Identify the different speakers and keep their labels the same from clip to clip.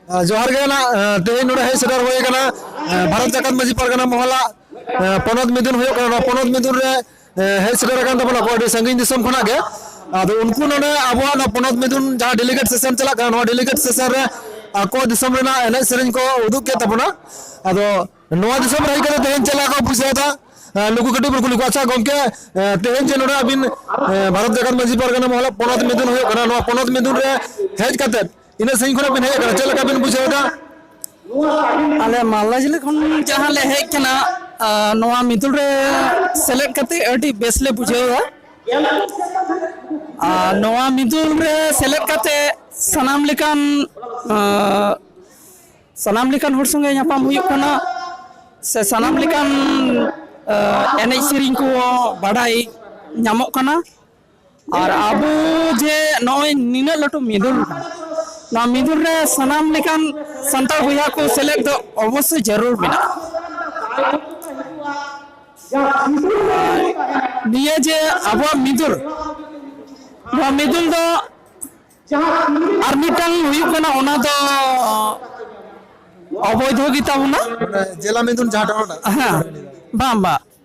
Speaker 1: ᱡᱚᱦᱟᱨ ᱜᱮ ᱱᱟᱜ ᱛᱮᱦᱮᱧ ᱱᱚᱰᱮ ᱦᱮᱡ ᱥᱮᱴᱮᱨ ᱦᱩᱭ ᱟᱠᱟᱱᱟ ᱵᱷᱟᱨᱚᱛ ᱡᱟᱠᱟᱛ ᱢᱟᱺᱡᱷᱤ ᱯᱟᱨᱜᱟᱱᱟ ᱢᱚᱦᱚᱞᱟ ᱯᱚᱱᱚᱛ ᱢᱤᱫᱩᱱ ᱦᱩᱭᱩᱜ ᱠᱟᱱᱟ ᱱᱚᱣᱟ ᱯᱚᱱᱚᱛ ᱢᱤᱫᱩᱱ ᱨᱮ ᱦᱮᱡ ᱥᱮᱴᱮᱨ ᱟᱠᱟᱱ ᱛᱟᱵᱚᱱᱟ ᱠᱚ ᱟᱹᱰᱤ ᱥᱟᱺᱜᱤᱧ ᱫᱤᱥᱚᱢ ᱠᱷᱚᱱᱟᱜ ᱜᱮ ᱟᱫᱚ ᱩᱱᱠᱩ ᱱᱚᱰᱮ ᱟᱵᱚᱣᱟᱜ ᱱᱚᱣᱟ ᱯᱚᱱᱚᱛ ᱢᱤᱫᱩᱱ ᱡᱟᱦᱟᱸ ᱰᱮᱞᱤᱜᱮᱴ ᱥᱮᱥᱚᱱ ᱪᱟᱞᱟᱜ ᱠᱟᱱᱟ ᱱᱚᱣᱟ ᱰᱮᱞᱤᱜᱮᱴ ᱥᱮᱥᱚᱱ ᱨᱮ ᱟᱠᱚ ᱫᱤᱥᱚᱢ ᱨᱮᱱᱟᱜ ᱮᱱᱮᱡ ᱥᱮᱨᱮᱧ ᱠᱚ ᱩᱫᱩᱜ ᱠᱮᱫ ᱛᱟᱵᱚᱱᱟ ᱟᱫᱚ ᱱᱚᱣᱟ ᱫᱤᱥᱚᱢ ᱨᱮ ᱦᱮᱡ ᱠᱟᱛᱮ ᱛᱮᱦᱮᱧ ᱪᱮᱫ ᱞᱮᱠᱟ ᱠᱚ ᱵᱩᱡᱷᱟᱹᱣᱫᱟ ᱱᱩᱠᱩ ᱠᱟᱹᱴᱤᱡ ᱵᱚᱱ ᱠᱩᱞᱤ ᱠᱚᱣᱟ ᱟᱪᱪᱷᱟ ᱜᱚᱢᱠᱮ ᱛᱮᱦᱮᱧ ᱡᱮ ᱱᱚᱰᱮ ᱟᱹᱵᱤᱱ ᱵᱷᱟᱨᱚᱛ ᱡᱟᱠᱟᱛ ᱢᱟᱺᱡᱷᱤ ᱯᱟᱨᱜᱟᱱᱟ ᱢᱚᱦᱚᱞᱟ ᱯᱚᱱᱚᱛ ᱢᱤᱫᱩᱱ ᱦᱩᱭᱩᱜ ᱠᱟᱱᱟ ᱱᱚᱣᱟ ᱯᱚᱱᱚᱛ ᱢᱤᱫᱩᱱ ᱨᱮ ᱦᱮᱡ ᱠᱟᱛᱮ ᱛᱤᱱᱟᱹᱜ ᱥᱟᱺᱜᱤᱧ ᱠᱷᱚᱱᱟᱜ ᱵᱤᱱ ᱦᱮᱡ ᱟᱠᱟᱱᱟ ᱪᱮᱫ ᱞᱮᱠᱟ ᱵᱤᱱ ᱵᱩᱡᱷᱟᱹᱣ ᱮᱫᱟ
Speaker 2: ᱟᱞᱮ ᱢᱟᱞᱫᱟ ᱡᱮᱞᱟ ᱠᱷᱚᱱ ᱡᱟᱦᱟᱸ ᱞᱮ ᱦᱮᱡ ᱠᱟᱱᱟ ᱟᱨ ᱱᱚᱣᱟ ᱢᱤᱫᱩᱞ ᱨᱮ ᱥᱮᱞᱮᱫ ᱠᱟᱛᱮ ᱟᱹᱰᱤ ᱵᱮᱥ ᱞᱮ ᱵᱩᱡᱷᱟᱹᱣᱟ ᱟᱨ ᱱᱚᱣᱟ ᱢᱤᱫᱩᱞ ᱨᱮ ᱥᱮᱞᱮᱫ ᱠᱟᱛᱮ ᱥᱟᱱᱟᱢ ᱞᱮᱠᱟᱱ ᱟᱸ, ᱥᱟᱱᱟᱢ ᱞᱮᱠᱟᱱ ᱦᱚᱲ ᱥᱚᱸᱜᱮ ᱧᱟᱯᱟᱢ ᱦᱩᱭᱩᱜ ᱠᱟᱱᱟ ᱥᱮ ᱥᱟᱱᱟᱢ ᱞᱮᱠᱟᱱ ᱟᱸ, ᱮᱱᱮᱡ ᱥᱮᱨᱮᱧ ᱠᱚ ᱵᱟᱰᱟᱭ ᱧᱟᱢᱚᱜ ᱠᱟᱱᱟ ᱟᱨ ᱟᱵᱚ ᱡᱮ ᱱᱚᱜᱼᱚᱭ ᱱᱤᱱᱟᱹᱜ ᱞᱟᱹᱴᱩ ᱢᱤᱫᱩᱱ ᱱᱚᱣᱟ ᱢᱤᱫᱩᱱ ᱨᱮ ᱥᱟᱱᱟᱢ ᱞᱮᱠᱟᱱ ᱥᱟᱱᱛᱟᱲ ᱵᱚᱭᱦᱟ ᱠᱚ ᱥᱮᱞᱮᱫ ᱫᱚ ᱚᱵᱚᱥᱥᱳᱭ ᱡᱟᱹᱨᱩᱲ ᱢᱮᱱᱟᱜᱼᱟ ᱱᱤᱭᱟᱹ ᱡᱮ ᱟᱵᱚᱣᱟᱜ ᱢᱤᱫᱩᱱ ᱱᱚᱣᱟ ᱢᱤᱫᱩᱱ ᱫᱚ ᱟᱨ ᱢᱤᱫᱴᱟᱝ ᱦᱩᱭᱩᱜ ᱠᱟᱱᱟ ᱚᱱᱟ ᱫᱚ ᱚᱵᱚᱭᱫᱷᱚ ᱜᱮᱛᱟ ᱵᱚᱱᱟ ᱡᱮᱞᱟ ᱢᱤᱫᱩᱱ
Speaker 1: ᱡᱟᱦᱟᱸ ᱴᱚᱴᱷᱟ ᱦᱮᱸ
Speaker 2: ᱵᱟᱝ ᱵᱟᱝ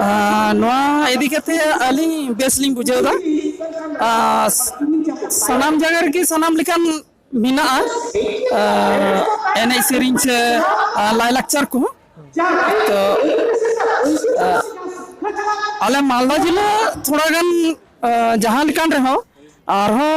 Speaker 1: ᱟᱸ ᱱᱚᱣᱟ
Speaker 2: ᱤᱫᱤ ᱠᱟᱛᱮ ᱟᱹᱞᱤᱧ ᱵᱮᱥ ᱞᱤᱧ ᱵᱩᱡᱷᱟᱹᱣ ᱫᱟ᱾ ᱟᱸ ᱥᱟᱱᱟᱢ ᱡᱟᱭᱜᱟ ᱨᱮᱜᱮ ᱥᱟᱱᱟᱢ ᱞᱮᱠᱟᱱ ᱢᱮᱱᱟᱜᱼᱟ ᱟᱸ ᱮᱱᱮᱡ ᱥᱮᱨᱮᱧ ᱥᱮ ᱞᱟᱭᱼᱞᱟᱠᱪᱟᱨ ᱠᱚᱦᱚᱸ᱾ ᱛᱚ ᱟᱸ ᱟᱞᱮ ᱢᱟᱞᱫᱟ ᱡᱤᱞᱟᱹ ᱛᱷᱚᱲᱟ ᱜᱟᱱ ᱟᱸ ᱡᱟᱦᱟᱸ ᱞᱮᱠᱟᱱ ᱨᱮᱦᱚᱸ ᱟᱨᱦᱚᱸ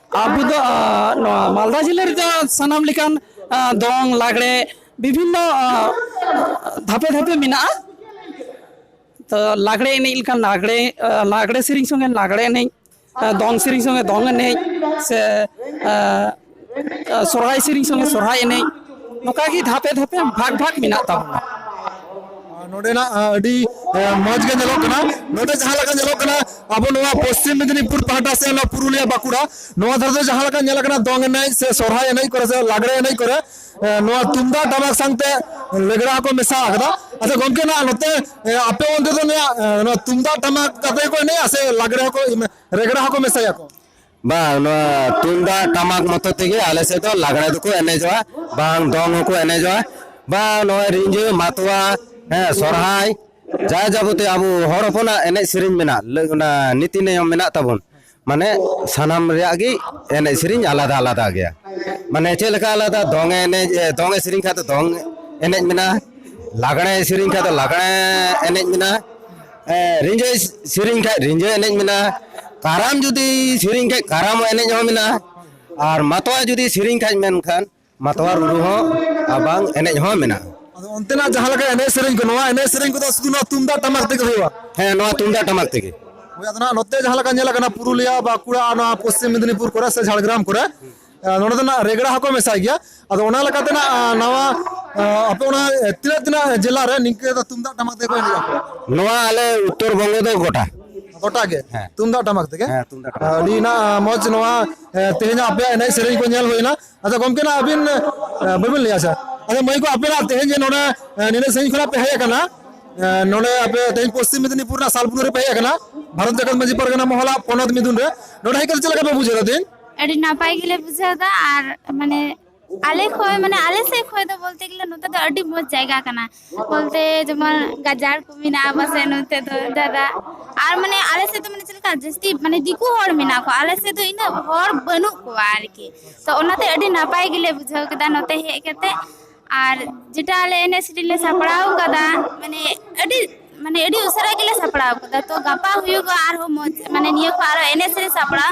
Speaker 2: ᱟᱵᱚ ᱫᱚ ᱱᱚᱣᱟ ᱢᱟᱞᱫᱟ ᱡᱤᱞᱟᱹ ᱨᱮᱫᱚ ᱥᱟᱱᱟᱢ ᱞᱮᱠᱟᱱ ᱫᱚᱝ ᱞᱟᱜᱽᱲᱮ ᱵᱤᱵᱷᱤᱱᱱᱚ ᱫᱷᱟᱯᱮ ᱫᱷᱟᱯᱮ ᱢᱮᱱᱟᱜᱼᱟ ᱛᱚ ᱞᱟᱜᱽᱲᱮ ᱮᱱᱮᱡ ᱞᱮᱠᱟᱱ ᱞᱟᱜᱽᱲᱮ ᱞᱟᱜᱽᱲᱮ ᱥᱮᱨᱮᱧ ᱥᱚᱸᱜᱮ ᱞᱟᱜᱽᱲᱮ ᱮᱱᱮᱡ ᱫᱚᱝ ᱥᱮᱨᱮᱧ ᱥᱚᱸᱜᱮ ᱫᱚᱝ ᱮᱱᱮᱡ ᱥᱮ ᱥᱚᱨᱦᱟᱭ ᱥᱮᱨᱮᱧ ᱥᱚᱸᱜᱮ ᱥᱚᱨᱦᱟᱭ ᱮᱱᱮᱡ ᱱᱚᱝᱠᱟᱜᱮ ᱫᱷᱟᱯᱮ ᱫᱷᱟᱯᱮ ᱵᱷᱟᱜᱽ ᱵᱷᱟᱜᱽ ᱢᱮᱱᱟᱜ ᱛᱟᱵᱚᱱᱟ
Speaker 1: ᱱᱚᱸᱰᱮᱱᱟᱜ ᱟᱹᱰᱤ ᱢᱚᱡᱽ ᱜᱮ ᱧᱮᱞᱚᱜ ᱠᱟᱱᱟ ᱱᱚᱸᱰᱮ ᱡᱟᱦᱟᱸ ᱞᱮᱠᱟ ᱧᱮᱞᱚᱜ ᱠᱟᱱᱟ ᱟᱵᱚ ᱱᱚᱣᱟ ᱯᱚᱥᱪᱤᱢ ᱢᱮᱫᱽᱱᱤᱯᱩᱨ ᱯᱟᱦᱴᱟ ᱥᱮ ᱱᱚᱣᱟ ᱯᱩᱨᱩᱞᱤᱭᱟ ᱵᱟᱸᱠᱩᱲᱟ ᱱᱚᱣᱟ ᱫᱷᱟᱨᱮ ᱫᱚ ᱡᱟᱦᱟᱸ ᱞᱮᱠᱟ ᱧᱮᱞ ᱠᱟᱱᱟ ᱫᱚᱝ ᱮᱱᱮᱡ ᱥᱮ ᱥᱚᱨᱦᱟᱭ ᱮᱱᱮᱡ ᱠᱚᱨᱮ ᱥᱮ ᱞᱟᱜᱽᱲᱮ ᱮᱱᱮᱡ ᱠᱚᱨᱮ ᱱᱚᱣᱟ ᱛᱩᱢᱫᱟᱜ ᱴᱟᱢᱟᱠ ᱥᱟᱶᱛᱮ ᱞᱮᱜᱽᱲᱟ ᱠᱚ ᱢᱮᱥᱟ ᱟᱠᱟᱫᱟ ᱟᱪᱪᱷᱟ ᱜᱚᱢᱠᱮ ᱱᱟᱜ ᱱᱚᱛᱮ ᱟᱯᱮ ᱚᱱᱛᱮ ᱫᱚ ᱱᱚᱣᱟ ᱛᱩᱢᱫᱟᱜ ᱴᱟᱢᱟᱠ ᱠᱟᱛᱮ ᱠᱚ ᱮᱱᱮᱡᱼᱟ ᱥᱮ ᱞᱟᱜᱽᱲᱮ ᱦᱚᱸᱠᱚ ᱨᱮᱜᱽᱲᱟ ᱦᱚᱸᱠᱚ ᱢᱮᱥᱟᱭᱟᱠᱚ ᱵᱟᱝ ᱱᱚᱣᱟ
Speaker 3: ᱛᱩᱢᱫᱟᱜ ᱴᱟᱢᱟᱠ ᱢᱚᱛᱚ ᱛᱮᱜᱮ ᱟᱞᱮ ᱥᱮᱫ ᱫᱚ ᱞᱟᱜᱽᱲᱮ ᱫᱚᱠᱚ ᱮᱱᱮᱡᱚᱜᱼᱟ ᱵᱟᱝ ᱫᱚᱝ ᱦᱚᱸᱠᱚ ᱮᱱᱮᱡᱚᱜᱼᱟ ᱵᱟᱝ ᱱᱚᱜᱼᱚᱭ ᱨᱤᱸᱡᱷᱟᱹ ᱢᱟᱛᱣᱟ ᱦᱮᱸ ᱥᱚᱨᱦᱟᱭ ᱡᱟ ᱡᱟᱵᱚᱛᱤ ᱟᱵᱚ ᱦᱚᱲ ᱦᱚᱯᱚᱱᱟᱜ ᱮᱱᱮᱡ ᱥᱮᱨᱮᱧ ᱢᱮᱱᱟᱜ ᱞᱟᱹᱜ ᱚᱱᱟ ᱱᱤᱛᱤ ᱱᱤᱭᱚᱢ ᱢᱮᱱᱟᱜ ᱛᱟᱵᱚᱱ ᱢᱟᱱᱮ ᱥᱟᱱᱟᱢ ᱨᱮᱭᱟᱜ ᱜᱮ ᱮᱱᱮᱡ ᱥᱮᱨᱮᱧ ᱟᱞᱟᱫᱟ ᱟᱞᱟᱫᱟ ᱜᱮᱭᱟ ᱢᱟᱱᱮ ᱪᱮᱫ ᱞᱮᱠᱟ ᱟᱞᱟᱫᱟ ᱫᱚᱝ ᱮᱱᱮᱡ ᱫᱚᱝ ᱮ ᱥᱮᱨᱮᱧ ᱠᱷᱟᱡ ᱫᱚ ᱫᱚᱝ ᱮᱱᱮᱡ ᱢᱮᱱᱟᱜᱼᱟ ᱞᱟᱜᱽᱲᱮ ᱥᱮᱨᱮᱧ ᱠᱷᱟᱡ ᱫᱚ ᱞᱟᱜᱽᱲᱮ ᱮᱱᱮᱡ ᱢᱮᱱᱟᱜᱼᱟ ᱨᱤᱸᱡᱷᱟᱹ ᱥᱮᱨᱮᱧ ᱠᱷᱟᱡ ᱨᱤᱸᱡᱷᱟᱹ ᱮᱱᱮᱡ ᱢᱮᱱᱟᱜᱼᱟ ᱠᱟᱨᱟᱢ ᱡᱩᱫᱤ ᱥᱮᱨᱮᱧ ᱠᱷᱟᱡ ᱠᱟᱨᱟᱢ ᱮᱱᱮᱡ ᱦᱚᱸ ᱢᱮᱱᱟᱜᱼᱟ ᱟᱨ ᱢᱟᱛᱣᱟᱨ ᱡᱩᱫᱤ ᱥᱮᱨᱮᱧ ᱠᱷᱟᱡ ᱢᱮᱱᱠᱷᱟᱱ ᱢᱟᱛᱣᱟᱨ ᱨᱩ ᱦᱚᱸ ᱟᱨ ᱵᱟᱝ ᱮᱱᱮᱡ ᱦᱚᱸ ᱢᱮᱱᱟᱜᱼᱟ ᱟᱫᱚ ᱚᱱᱛᱮᱱᱟᱜ ᱡᱟᱦᱟᱸ
Speaker 1: ᱞᱮᱠᱟ ᱮᱱᱮᱡ ᱥᱮᱨᱮᱧ ᱠᱚ ᱱᱚᱣᱟ ᱮᱱᱮᱡ ᱥᱮᱨᱮᱧ ᱠᱚᱫᱚ ᱥᱩᱫᱷᱩ ᱱᱚᱣᱟ ᱛᱩᱢᱫᱟᱜ ᱴᱟᱢᱟᱠ ᱛᱮᱜᱮ ᱦᱩᱭᱩᱜᱼᱟ ᱦᱮᱸ ᱱᱚᱣᱟ ᱛᱩᱢᱫᱟᱜ
Speaker 3: ᱴᱟᱢᱟᱠ ᱛᱮᱜᱮ ᱦᱳᱭ ᱟᱫᱚ ᱱᱟᱦᱟᱜ ᱱᱚᱛᱮ
Speaker 1: ᱡᱟᱦᱟᱸ ᱞᱮᱠᱟ ᱧᱮᱞ ᱟᱠᱟᱱᱟ ᱯᱩᱨᱩᱞᱤᱭᱟ ᱵᱟᱸᱠᱩᱲᱟ ᱱᱚᱣᱟ ᱯᱚᱥᱪᱤᱢ ᱢᱮᱫᱽᱱᱤᱯᱩᱨ ᱠᱚᱨᱮ ᱥᱮ ᱡᱷᱟᱲᱜᱨᱟᱢ ᱠᱚᱨᱮ ᱱᱚᱰᱮ ᱫᱚ ᱱᱟᱜ ᱨᱮᱜᱽᱲᱟ ᱦᱚᱸᱠᱚ ᱢᱮᱥᱟᱭ ᱜᱮᱭᱟ ᱟᱫᱚ ᱚᱱᱟ ᱞᱮᱠᱟᱛᱮ ᱱᱟᱜ ᱱᱟᱣᱟ ᱟᱯᱮ ᱚᱱᱟ ᱛᱤᱱᱟᱹᱜ ᱛᱤᱱᱟᱹᱜ ᱡᱮᱞᱟ ᱨᱮ ᱱᱤᱝᱠᱟᱹ ᱫᱚ ᱛᱩᱢᱫᱟᱜ ᱴᱟᱢᱟᱠ ᱛᱮᱠᱚ ᱮᱱᱮᱡ ᱟᱠᱚ ᱱᱚᱣᱟ ᱟᱞᱮ
Speaker 3: ᱩᱛᱛᱚᱨ ᱵᱚᱝᱜᱚ ᱫᱚ ᱜᱚᱴᱟ ᱜᱚᱴᱟ ᱜᱮ
Speaker 1: ᱛᱩᱢᱫᱟᱜ ᱴᱟᱢᱟᱠ ᱛᱮᱜᱮ ᱦᱮᱸ ᱛᱩᱢᱫᱟᱜ ᱴᱟᱢᱟᱠ ᱟᱹᱰᱤ
Speaker 3: ᱱᱟᱜ ᱢᱚᱡᱽ
Speaker 1: ᱱᱚᱣᱟ ᱛᱮᱦᱮᱧ ᱟᱯᱮᱭᱟᱜ ᱮᱱᱮᱡ ᱥᱮᱨᱮᱧ ᱠᱚ ᱧᱮᱞ ᱦᱩᱭᱱᱟ ᱟᱫᱚ ᱜᱚᱢᱠᱮ ᱱᱟᱜ ᱟᱹᱵᱤᱱ ᱵᱟᱹᱵᱤᱱ ᱞᱟᱹᱭᱟ ᱟᱪᱪᱷᱟ ᱟᱫᱚ ᱢᱟᱹᱭ ᱠᱚ ᱟᱯᱮ ᱱᱟᱜ ᱛᱮᱦᱮᱧ ᱡᱮ ᱱᱚᱰᱮ ᱱᱤᱱᱟᱹᱜ ᱥᱟᱺᱜᱤᱧ ᱠᱷᱚᱱᱟᱜ ᱯᱮ ᱦᱮᱡ ᱟᱠᱟᱱᱟ ᱱᱚᱰᱮ ᱟᱯᱮ ᱛᱮᱦᱮᱧ ᱯᱚᱥᱪᱤᱢ ᱢᱮᱫᱤᱱᱤᱯᱩᱨ ᱨᱮᱱᱟᱜ ᱥᱟᱞᱵᱩᱱᱩ ᱨᱮ ᱯᱮ ᱦᱮᱡ ᱟᱠᱟᱱᱟ ᱵᱷᱟᱨᱚᱛ ᱡᱟᱠᱟᱛ ᱢᱟᱹᱡᱷᱤ ᱯᱟᱨᱜᱟᱱᱟ ᱢᱚᱦᱚᱞᱟᱜ ᱯᱚᱱᱚᱛ ᱢᱤᱫᱩᱱ ᱨᱮ ᱱᱚᱰᱮ ᱦᱮᱡ ᱠᱟᱛᱮ ᱪᱮᱫ ᱞᱮᱠᱟ ᱯᱮ ᱵᱩᱡᱷᱟᱹᱣ ᱮᱫᱟ ᱛᱮᱦᱮᱧ ᱟᱹᱰᱤ ᱱᱟᱯᱟᱭ ᱜᱮᱞᱮ
Speaker 4: ᱵᱩᱡᱷᱟᱹᱣ ᱮᱫᱟ ᱟᱨ ᱢᱟᱱᱮ ᱟᱞᱮ ᱠᱷᱚᱡ ᱢᱟᱱᱮ ᱟᱞᱮ ᱥᱮᱫ ᱠᱷᱚᱡ ᱫᱚ ᱵᱚᱞᱛᱮ ᱜᱮᱞᱮ ᱱᱚᱛᱮ ᱫᱚ ᱟᱹᱰᱤ ᱢᱚᱸᱡᱽ ᱡᱟᱭᱜᱟ ᱠᱟᱱᱟ ᱵᱚᱞᱛᱮ ᱡᱮᱢᱚᱱ ᱜᱟᱡᱟᱲ ᱠᱚ ᱢᱮᱱᱟᱜᱼᱟ ᱯᱟᱥᱮᱡ ᱱᱚᱛᱮ ᱫᱚ ᱡᱟᱫᱟ ᱟᱨ ᱢᱟᱱᱮ ᱟᱞᱮ ᱥᱮᱫ ᱫᱚ ᱢᱟᱱᱮ ᱪᱮᱫ ᱞᱮᱠᱟ ᱡᱟᱹᱥᱛᱤ ᱢᱟᱱᱮ ᱫᱤᱠᱩ ᱦᱚᱲ ᱢᱮᱱᱟᱜ ᱠᱚᱣᱟ ᱟᱞᱮ ᱥᱮᱫ ᱫᱚ ᱤᱱᱟᱹᱜ ᱦᱚᱲ ᱵᱟᱹᱱᱩᱜ ᱠᱚᱣᱟ ᱟᱨᱠᱤ ᱛᱚ ᱚᱱᱟᱛᱮ ᱟᱹᱰᱤ ᱱᱟᱯᱟᱭ ᱜᱮᱞᱮ ᱵᱩᱡᱷᱟᱹᱣ ᱠᱮᱫᱟ ᱱᱚᱛᱮ ᱦᱮᱡ ᱠᱟᱛᱮ ᱟᱨ ᱡᱮᱴᱟ ᱟᱞᱮ ᱮᱱᱮᱡ ᱥᱮᱨᱮᱧ ᱞᱮ ᱥᱟᱯᱲᱟᱣ ᱟᱠᱟᱫᱟ ᱢᱟᱱᱮ ᱟᱹᱰᱤ ᱢᱟᱱᱮ ᱟᱹᱰᱤ ᱩᱥᱟᱹᱨᱟ ᱜᱮᱞᱮ ᱥᱟᱯᱲᱟᱣ ᱟᱠᱟᱫᱟ ᱛᱚ ᱜᱟᱯᱟ ᱦᱩᱭᱩᱜᱼᱟ ᱟᱨᱦᱚᱸ ᱢᱚᱸᱡᱽ ᱢᱟᱱᱮ ᱱᱤᱭᱟᱹ ᱠᱷᱚᱱ ᱟᱨᱦᱚᱸ ᱮᱱᱮᱡ ᱥᱮᱨᱮᱧ ᱥᱟᱯᱲᱟᱣ